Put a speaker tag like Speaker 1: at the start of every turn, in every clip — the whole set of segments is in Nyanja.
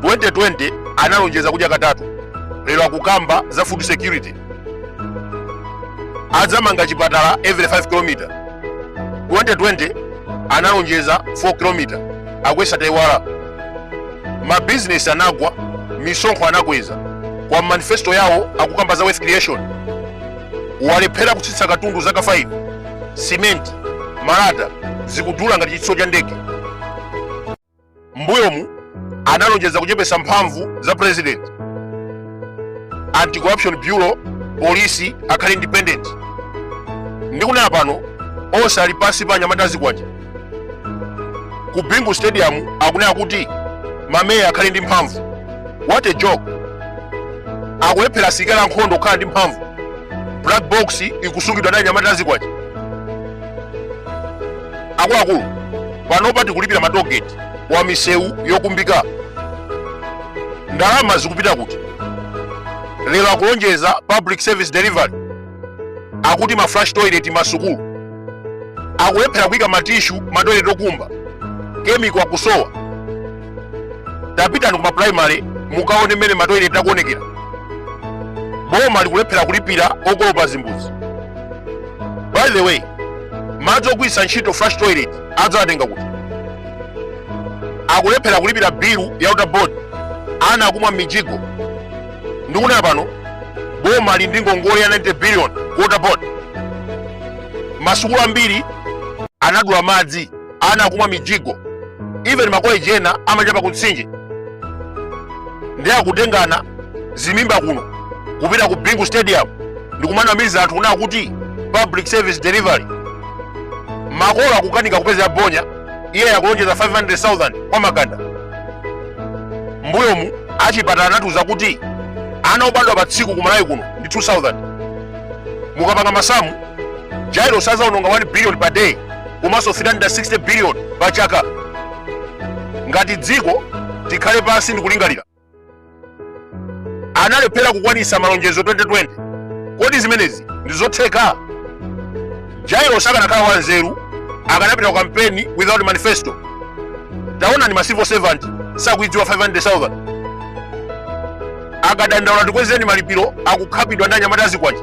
Speaker 1: 2020 analonjeza kudya katatu lero akukamba za food security adzamanga chipatala every 5 km 2020 analonjeza 4 km akuyesa taiwala mabizinesi anagwa misonkho anakweza kwa manifesto yawo akukamba za wealth creation walephera kutsitsa katundu zaka 5 simenti malata zikudula ngati chitsulo cha ndege mbuyomu analonjeza kuchepesa mphamvu za president anti corruption bureau polisi akhale independent ndikunena pano onse ali pansi pa anyamata azikwanje ku bingu stadium akunena kuti mameya akhale ndi mphamvu what a joke akulephera asilikali ankhondo kukhala ndi mphamvu black box ikusungidwa ndi anyamata azikwanje akuluakulu panopa tikulipira matogeti wa misewu yokumbika ndalama zikupita kuti lero akulonjeza public service delivery akuti ma flush toilet masukulu akulephera kuika matishu matoilet okumba chemical akusowa tapitani kuma primary mukaone mmene matoilet akuonekera boma likulephera kulipira okolopa zimbudzi by the way madzi ogwiritsa ntchito flush toilet adzawatenga kuti akulephera kulipira bilu ya water board ana akumwa m'mijigo ndikunena pano boma lili ndi ngongole ya 90 billion ku water board masukulu ambiri anadula madzi ana akumwa mijigo even makoleji ena amachapa kumtsinje ndi akutengana zimimba kuno kupita ku bingu stadium ndikumanamiza anthu kunena kuti public service delivery makolo akukanika kupeza bonya iye akulonjeza 500000 kwa makanda mbuyomu achipatala anatiuza kuti ana obadwa pa tsiku kumalawi kuno ndi 2000 mukapanga masamu jairos azaononga 1 billion per day komanso 360 billion pa chaka ngati dziko tikhale pansi ndi kulingalira analephera kukwanisa malonjezo 2020 kodi zimenezi ndi zotheka jairos akanakhala wanzeru akanapita ku kampeni without manifesto taonani ma civil servant sakuidziwa 500000 akadandaula tikwezereni malipiro akukhapidwa ndi anyamata azikwanje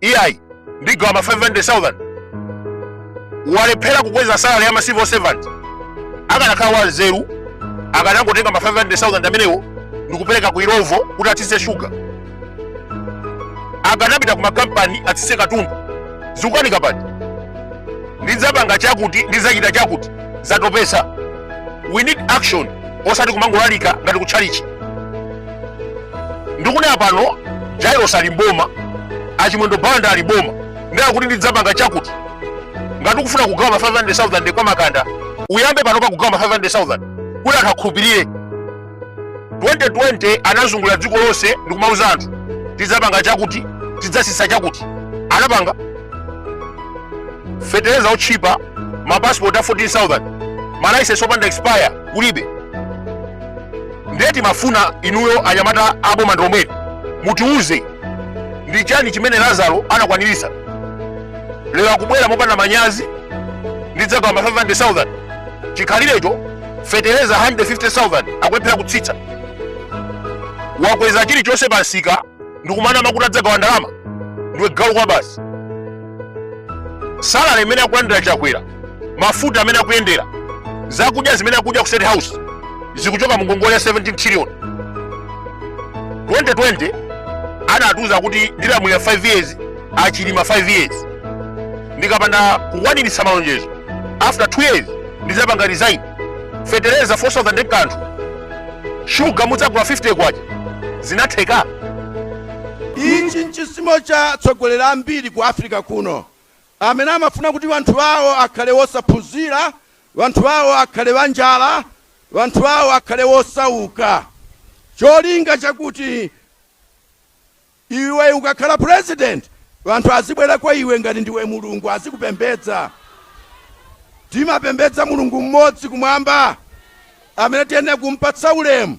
Speaker 1: iyayi ndigawa ma 500000 walephera kukweza salary ya ma civil servant akanakhala wa nzeru akanangotenga ma 500000 amenewo ndikupereka ku illovo kuti atsitse shuga akanapita ku makampani atsitse katundu zikukanika apa ati ndidzapanga chakuti ndidzachita chakuti zatopesa we need action osati kumangolalika ngati kutchalichi ndikunena pano jairos ali mboma achimwendo banda ali mboma ndiye akuti ndidzapanga chakuti ngati ukufuna kugawa ma 500000 kwa makanda uyambe pano pa kugawa ma 500000 kuti anthu akhulupirire 2020 anazungulira dziko lonse ndikumauza anthu tidzapanga chakuti tidzatsitsa chakuti anapanga fetereza otchipa mapasipoti a 14000 malaisensi opanda expire kulibe ndiye timafuna inuyo anyamata aboma ndi omwe mutiuze ndi chani chimene lazaro anakwaniritsa lero akubwera mopanda manyazi ndidzagawa ma 500000 chikhalirecho fetereza 150000 akulephera kutsitsa wakweza chilichonse pa nsika ndikumanama kuti adzagawa ndalama ndiwe galu kwabasi salale imene akulandira chakwera mafuta amene akuyendera zakudya zimene akudya ku state house zikuchoka mu ngongole ya 17 trillion 2020 anatiuza kuti ndilamulira 5 years achilima 5 years ndikapanda kukwaniritsa malonjezo after 2 years ndidzapanga resign fetereza 4000 kanthu shuga mudzagula 50 kwacha zinatheka
Speaker 2: ichi nchisimo cha atsogoleri ambiri ku africa kuno Amene amafuna kuti wanthu wawo akhale wosaphunzira, wanthu wawo akhale wanjala, wanthu wawo akhale wosauka, cholinga chakuti iwe ukakhala president wanthu azibwera kwa iwe ngati ndiwe Mulungu azikupembedza. Timapembedza Mulungu mmodzi kumwamba amene tiyenera kumpatsa ulemu.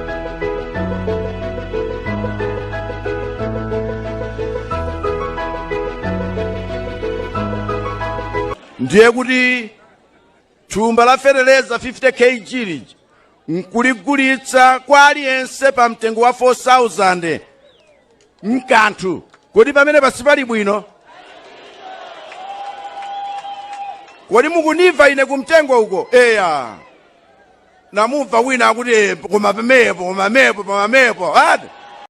Speaker 2: ndiye kuti thumba la fetereza 50 kg lija nkuligulitsa kwa aliyense pa mtengo wa 4000 mkanthu kodi pamene pansi pali bwino kodi mukundimva ine kumtengo uko eya namumva wina akuti "Eh, koma pamenepo koma pamenepo koma pamenepo ati